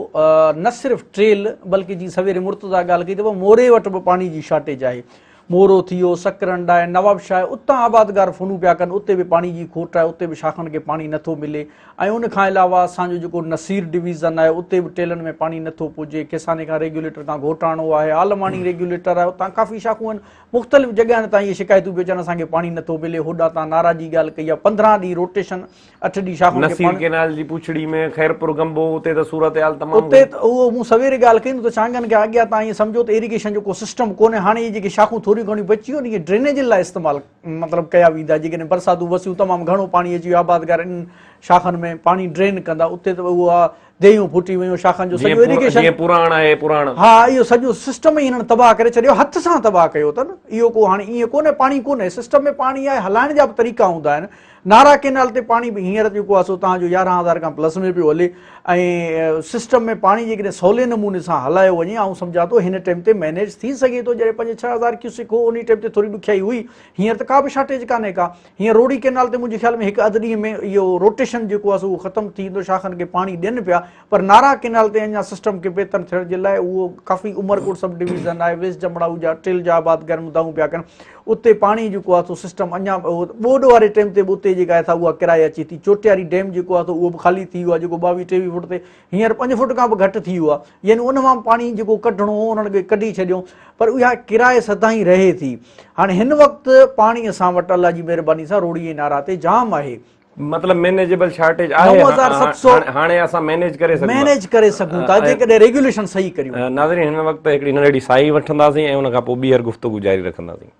نه صرف ٽيل بلڪه جي سويري مرتضيٰ ڳالهه ڪئي ته موري وٽ به پاڻي جي شارٽيج آهي. مورو ٿي ويو، سڪرنڊ آهي، نوابشاهه آهي، اتان آبادگار فونون پيا ڪن، اتي به پاڻي جي کوٽ آهي، اتي به شاخن کي پاڻي نه ٿو ملي ۽ ان کان علاوه اسان جو جيڪو نصير ڊويزن آهي، اتي به ٽيلن ۾ پاڻي نه ٿو پڄي، ڪيساني کان ريگيوليٽر کان گهوٽاڻو آهي، عالماڻي ريگيوليٽر آهي، اتان ڪافي شاخون آهن، مختلف جڳهن تان اهي شڪايتون پيون اچن اسان کي پاڻي نه ٿو ملي، هوڏانهن تان نارا جي ڳالهه ڪئي آهي، پندرهن ڏينهن روٽيشن اٺ ڏينهن شاخن کي نصير ڪينال جي پڇڙي ۾ خيرپور گنبو اتي ته صورتحال تمام اتي اهو مون سويري ڳالهه ڪئي ته چانگن کي اڳيان تان ائين سمجهو ته ايريگيشن جو ڪو سسٽم ڪونهي هاڻي اهي جيڪي شاخون ٿوريون گهڻيون بچيون آهن اهي ڊرينيجن لاء استعمال مطلب ڪيا ويندا جيڪڏهن برساتون وسيون تمام گهڻو پاڻي اچي ويو آبادگار انهن شاخن ۾ پاڻي ڊرين ڪندا اتي ته اهو ديهيون ڦٽي ويون شاخن جو سڄو ايريگيشن جي پراڻ آهي پراڻ ها اهو سڄو سسٽم ئي هنن تباهه ڪري ڇڏيو هٿ سان تباهه ڪيو تن اهو ڪو هاڻي ايئن ڪونه پاڻي ڪونه سسٽم ۾ پاڻي آهي هلائڻ جا به طريقا هوندا آهن نارا ڪينال تي پاڻي به هينئر جيڪو آهي سو تان جو يارهن هزار کان پلس ۾ پيو هلي ۽ سسٽم ۾ پاڻي جيڪڏهن سولي نموني سان هلايو وڃي آئون سمجهان ٿو هن ٽائم تي مينيج ٿي سگهي ٿو جڏهن پنج ڇهه هزار ڪيوسڪ هو ان ٽائم تي ٿوري ڏکيائي هئي هينئر ته ڪا به شارٽيج ڪانهي ڪا هينئر روهڙي ڪئنال تي منهنجي خيال ۾ هڪ اڌ ڏينهن ۾ اهو روٽيشن جيڪو آهي سو اهو ختم ٿي ويندو شاخن کي پاڻي ڏين پيا پر نارا ڪئنال تي اڃا سسٽم کي بهتر ٿيڻ جي لاء اهو ڪافي عمرڪوٽ سب ڊويزن آهي ويس جمڙائو جا ٽيل جا آباد گرم دائون پيا ڪن اتي پاڻي جيڪو آهي سو سسٽم اڃا ٻوڏ واري ٽيم تي به اتي جيڪا آهي سا اها ڪرايا اچي ٿي چوٽياري ڊيم جيڪو آهي سو اهو به خالي ٿي ويو آهي جيڪو ٻاويهه ٽيويهه فوٽ تي هينئر پنج فوٽ کان به گهٽ ٿي ويو آهي يعني ان مان پاڻي جيڪو ڪڍڻو هو انهن کي ڪڍي ڇڏيو پر اها ڪرائي سدائين رهي ٿي هاڻي هن وقت پاڻي اسان وٽ الله جي مهرباني سان روڙي ۽ نارا تي جام آهي مطلب مينيجبل شارٽيج آهي هاڻي اسان مينيج ڪري سگهون مينيج ڪري سگهون ٿا جيڪڏهن ريگيوليشن صحيح ڪريون ناظرين هن وقت هڪڙي ننڍڙي ساهي وٺنداسين ۽ ان کان پوء ٻيهر گفتگو جاري رکنداسين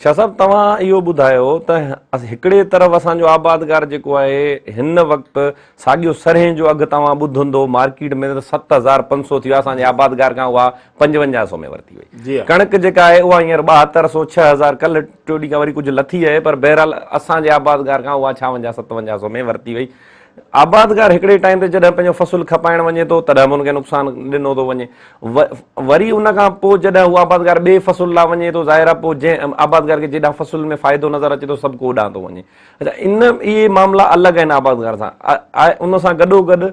شاهه صاحب توهان اهو ٻڌايو ته هڪڙي طرف اسان جو آبادگار جيڪو آهي هن وقت ساڳيو سرهين جو اگهه توهان ٻڌندو مارڪيٽ ۾ ته ست هزار پنج سو ٿي ويو آهي اسان جي آبادگار کان اها پنجونجاهه سو ۾ ورتي وئي ڪڻڪ جيڪا آهي اها هينئر ٻاهتر سو ڇهه هزار ڪلهه ٽيو ڏينهن کان وري ڪجهه لٿي آهي پر بهرحال اسان جي آبادگار کان اها ڇاونجاهه ستونجاهه سو ۾ ورتي وئي آبادگار هڪڙي ٽائيم تي جڏهن پنهنجو فصل کپائڻ وڃي ٿو تڏهن به ان کي نقصان ڏنو ٿو وڃي وري ان کان پوء جڏهن هو آبادگار ٻئي فصل لا وڃي ٿو ظاهر آهي پوء جنهن آبادگار کي جيڏانهن فصل ۾ فائدو نظر اچي ٿو سڀ ڪو اوڏانهن ٿو وڃي اڇا ان اهي معاملا الڳ آهن آبادگار سان ان سان گڏو گڏ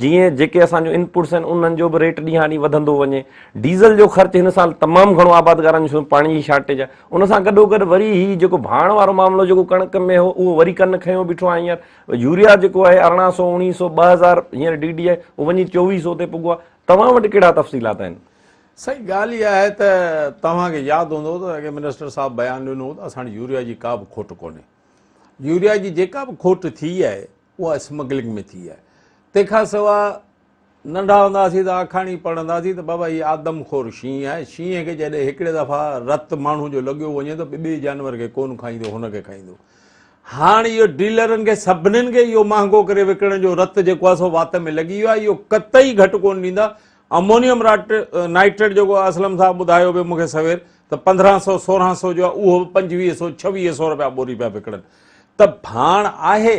جيئن جيڪي اسان جون انپوٽس آهن انهن جو به ريٽ ڏينهان ڏينهن وڌندو وڃي ڊيزل جو خرچ هن سال تمام گهڻو آبادگارن جو پاڻي جي شارٽيج آهي ان سان گڏو گڏ وري هي جيڪو ڀاڻ وارو معاملو جيڪو ڪڻڪ ۾ هو اهو وري ڪن کنيو بيٺو آهي هينئر يوريا جيڪو آهي ارڙهن سو اوڻيهه سو ٻه هزار هينئر ڊي ڊي آهي اهو وڃي چوويهه سو تي پڳو آهي توهان وٽ ڪهڙا تفصيلات آهن سائين ڳالهه اها آهي ته توهان کي ياد هوندو ته اڳي منسٽر صاحب بيان ڏنو هو ته اسان وٽ يوريا جي ڪا به کوٽ ڪونهي يوريا جي جيڪا به کوٽ ٿي آهي اها اسمگلنگ ۾ ٿي آهي تنهن کان سواء ننڍا هوندا هئاسين ته آکاڻي پڙهندا هئاسين ته بابا هي آدم خور شينهن آهي، شينهن کي جڏهن هڪڙي دفعا رت ماڻهو جو لڳيو وڃي ته ٻئي جانور کي ڪونه کائيندو هن کي کائيندو. هاڻ اهو ڊيلرن کي سڀنين کي اهو مهانگو ڪري وڪڻڻ جو رت جيڪو آهي سو وات ۾ لڳي ويو آهي اهو قطعي گهٽ ڪونه ڏيندا امونيم نائٽريٽ جيڪو اسلم صاحب ٻڌايو پيو مون کي سوير ته پندرهن سو سورهن سو جو اهو به پنجويهه سو ڇويهه سو رپيا ٻوري پيا وڪڻن ته ڀاڻ آهي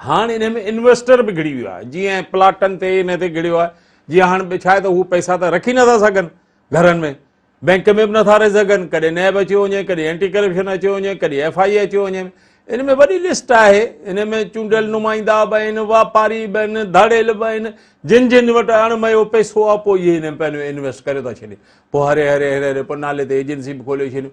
هاڻ انهي ۾ انويسٽر به گهڙي ويو آهي جيئن پلاٽن تي انهي تي گهڙيو آهي جيئن هاڻ ٻه ڇا آهي ته هو پئسا ته رکي نه ٿا سگهن گهرن ۾ بينڪ ۾ به نه ٿا رهي سگهن ڪڏهن نيب اچيو وڃي ڪڏهن اينٽي ڪرپشن اچيو وڃي ڪڏهن ايف آئي اي اچيو وڃي ان ۾ وڏي لسٽ آهي ان ۾ چونڊيل نمائندا به آهن واپاري به آهن ڌاڙيل به آهن جن جن وٽ اڻ ميو پئسو آهي پوء اهي ان ۾ پنهنجو انويسٽ ڪري ٿا ڇڏين پوء هري هري هري هري پوء نالي تي ايجنسي به کولي ڇڏيون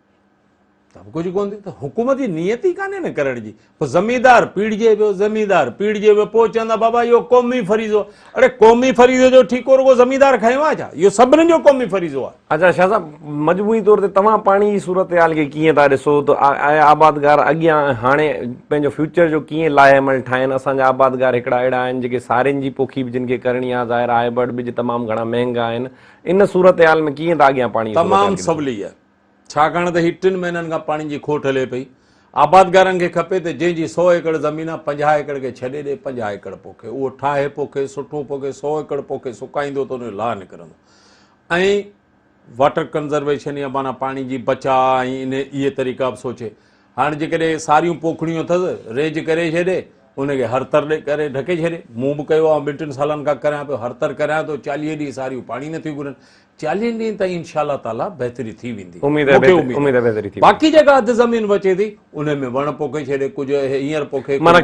سڀ ڪجهه ڪونه ٿي ته حڪومت جي نيت ئي ڪانهي نه ڪرڻ جي پوء زميندار پيڙجي پيو زميندار پيڙجي پيو پوء چوندا بابا اهو قومي فريضو آهي اڙي قومي فريضي جو ٺيڪو رڳو زميندار کيو آهي ڇا اهو سڀني جو قومي فريضو آهي اچا شاهه صاحب مجموعي طور تي توهان پاڻي جي صورتحال کي ڪيئن ٿا ڏسو ته آيا آبادگار اڳيان ۽ هاڻي پنهنجو فيوچر جو ڪيئن لاهي عمل ٺاهين اسان جا آبادگار هڪڙا اهڙا آهن جيڪي سارين جي پوکي به جن کي ڪرڻي آهي ظاهر آهي هائبرڊ ٻج تمام گهڻا مهنگا آهن ان صورتحال ۾ ڪيئن ٿا اڳيان پاڻي جي صورتحال کي ڏسو تمام سولي آهي ڇاڪاڻ ته هي ٽن مهينن کان پاڻي جي کوٽ هلي پئي. آبادگارن کي کپي ته جنهن جي سؤ ايڪڙ زمين آ پنجاهه ايڪڙ کي ڇڏي ڏي پنجاهه ايڪڙ پوکي اهو ٺاهي پوکي سٺو پوکي سؤ ايڪڙ پوکي سڪائيندو ته ان جو لاهه نڪرندو ۽ واٽر ڪنزرويشن يا معنيٰ پاڻي جي بچاء ۽ انهي اهي طريقا به سوچي هاڻ جيڪڏهن ساريون پوکڙيون اٿس ريج ڪري ڇڏي ان کي هرتر ڪري ڍڪي ڇڏي مون به ڪيو آ ٻن ٽن سالن کان ڪريان پيو هرتر ڪريان ٿو چاليهه ڏينهن ساريون پاڻي نٿيون گهرن چاليهن ڏينهن تائين انشاء الله تعالي بهتري ٿي ويندي اميد آ اميد آ بهتري ٿي باقي جيڪا اڌ زمين بچي ٿي ان ۾ وڻ پوکي ڇڏي ڪجهه هينئر پوکي معنی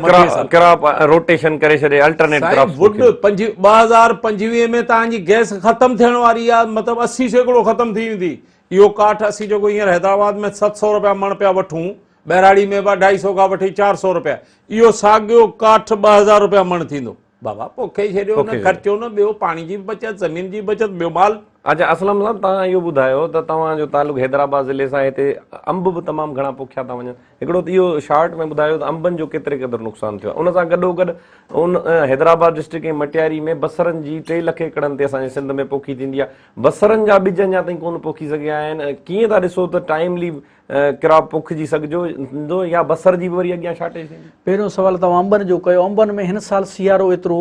ڪراپ روٽيشن ڪري ڇڏي الٽرنيٽ ڪراپ وڊ 2025 ۾ تان جي گئس ختم ٿيڻ واري آ مطلب 80 سيڪڙو ختم ٿي ويندي اهو ڪاٺ اسين جيڪو هينئر حيدرآباد ۾ ست سؤ رپيا مڻ پيا وٺون، ٻهراڙي ۾ به اڍائي سؤ کان وٺي چار سؤ رپيا، اهو ساڳيو ڪاٺ ٻه هزار رپيا مڻ ٿيندو. بابا پوکي ڇڏيو نه خرچو نه ٻيو پاڻي جي به بچت زمين جي به بچت ٻيو مال. اچا اسلم صاحب توهان اهو ٻڌايو ته توهان جو تعلق حيدرآباد ضلعي سان هتي انب به تمام گهڻا پوکيا ٿا وڃن هڪڙو ته اهو شارٽ ۾ ٻڌايو ته انبن جو ڪيتري قدر نقصان ٿيو ان سان گڏو گڏ ان حيدرآباد ڊسٽرڪٽ ۽ مٽياري ۾ بصرن جي ٽي لک ايڪڙن تي اسان جي سنڌ ۾ پوکي ٿيندي آهي بصرن جا ٻج اڃا تائين ڪونه پوکي سگهيا آهن، ڪيئن ٿا ڏسو ته ٽائيملي ڪراپ پوکجي سگهجندو يا بصر جي به وري اڳيان شارٽيج ٿيندي؟ پهريون سوال توهان انبن جو ڪيو، انبن ۾ هن سال سيارو ايترو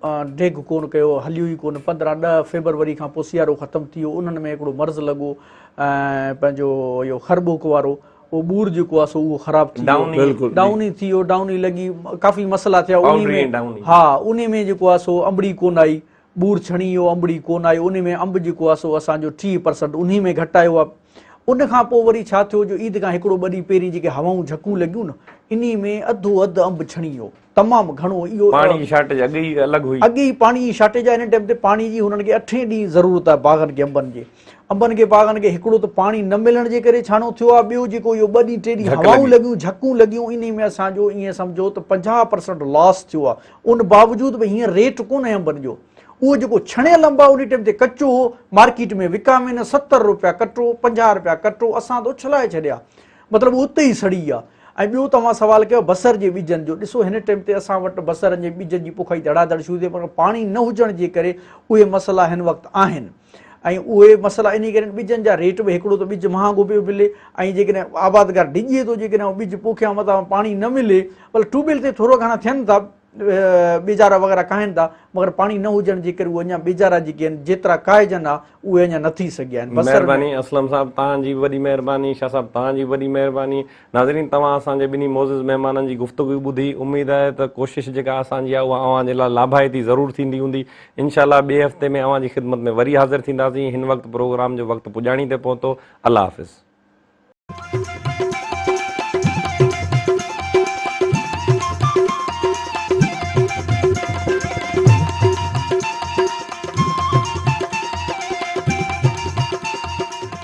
ڊيگهه ڪونه ڪيو، هليو ئي ڪونه، پندرهن ڏهه فيبروري کان پوء سيارو ختم ٿي ويو، انهن ۾ هڪڙو مرض لڳو پنهنجو اهو خر ٻوڪ وارو، اهو ٻور جيڪو آهي سو اهو خراب ٿي ويو، ڊائوني ٿي ويو، ڊائوني لڳي، ڪافي مسئلا ٿيا، انهي ۾ ها انهي ۾ جيڪو آهي سو انبڙي ڪونه آئي، ٻور ڇڻي ويو انبڙي ڪون آئي ان ۾ انب جيڪو آ سو اسان جو ٽيهه پرسنٽ انهي ۾ گهٽ آيو آ ان کان پوء وري ڇا ٿيو جو عيد کان هڪڙو ٻه ڏينهن پهرين جيڪي هوائون جهڪون لڳيون نه انهي ۾ اڌو اڌ انب ڇڻي ويو تمام گهڻو اهو پاڻي جي شارٽيج اڳ ئي الڳ هئي اڳ ئي پاڻي جي شارٽيج آ ان ٽائيم تي پاڻي جي هنن کي اٺين ڏينهن ضرورت آ باغن کي انبن جي انبن کي باغن کي هڪڙو ته پاڻي نه ملڻ جي ڪري ڇاڻو ٿيو آ ٻيو جيڪو اهو ٻه ڏينهن ٽي ڏينهن هوائون لڳيون جهڪون لڳيون انهي ۾ اسان جو ائين سمجهو ته پنجاهه پرسنٽ لاس ٿيو آ ان باوجود به هينئر ريٽ ڪونه هيم بنجو. اهو جيڪو ڇڻيل انب آهي انهي ٽيم تي ڪچو هو، مارڪيٽ ۾ وڪامين ستر روپيا ڪٽو، پنجاهه روپيا ڪٽو، اسان ته اڇلائي ڇڏيا. مطلب هو اتي ئي سڙي ويا. ۽ ٻيو توهان سوال ڪيو بصر جي ٻجن جو، ڏسو هن ٽيم تي اسان وٽ بصرن جي ٻجن جي پوکائي ڌڙا ڌڙ شروع ٿي مگر پاڻي نه هجڻ جي ڪري اهي مسئلا هن وقت آهن. ۽ اهي مسئلا انهي ڪري آهن ٻجن جا ريٽ به هڪڙو ته ٻج مهانگو پيو ملي ۽ جيڪڏهن آبادگار ڊڄي ٿو جيڪڏهن اهو ٻج پوکيان متان پاڻي نه ملي بل ٽيوبيل تي ٿورا گهڻا ٿين ٿا ٻيجارا وغيره ڪاهن ٿا مگر پاڻي نه هجڻ جي ڪري اهي اڃا ٻيجارا جيڪي آهن جيترا ڪاهجن ها اهي اڃا نه ٿي سگهيا آهن مهرباني اسلم صاحب توهان جي وڏي مهرباني شاهه صاحب توهان جي وڏي مهرباني ناظرين توهان اسان جي ٻنهي معزز مهمانن جي گفتگو ٻڌي اميد آهي ته ڪوشش جيڪا اسان جي آهي اها اوهان جي لاء لاڀائتي ضرور ٿيندي هوندي انشاء الله ٻئي هفتي ۾ اوهان جي خدمت ۾ وري حاضر ٿينداسين هن وقت پروگرام جو وقت پڄاڻي تي پهتو الله حافظ.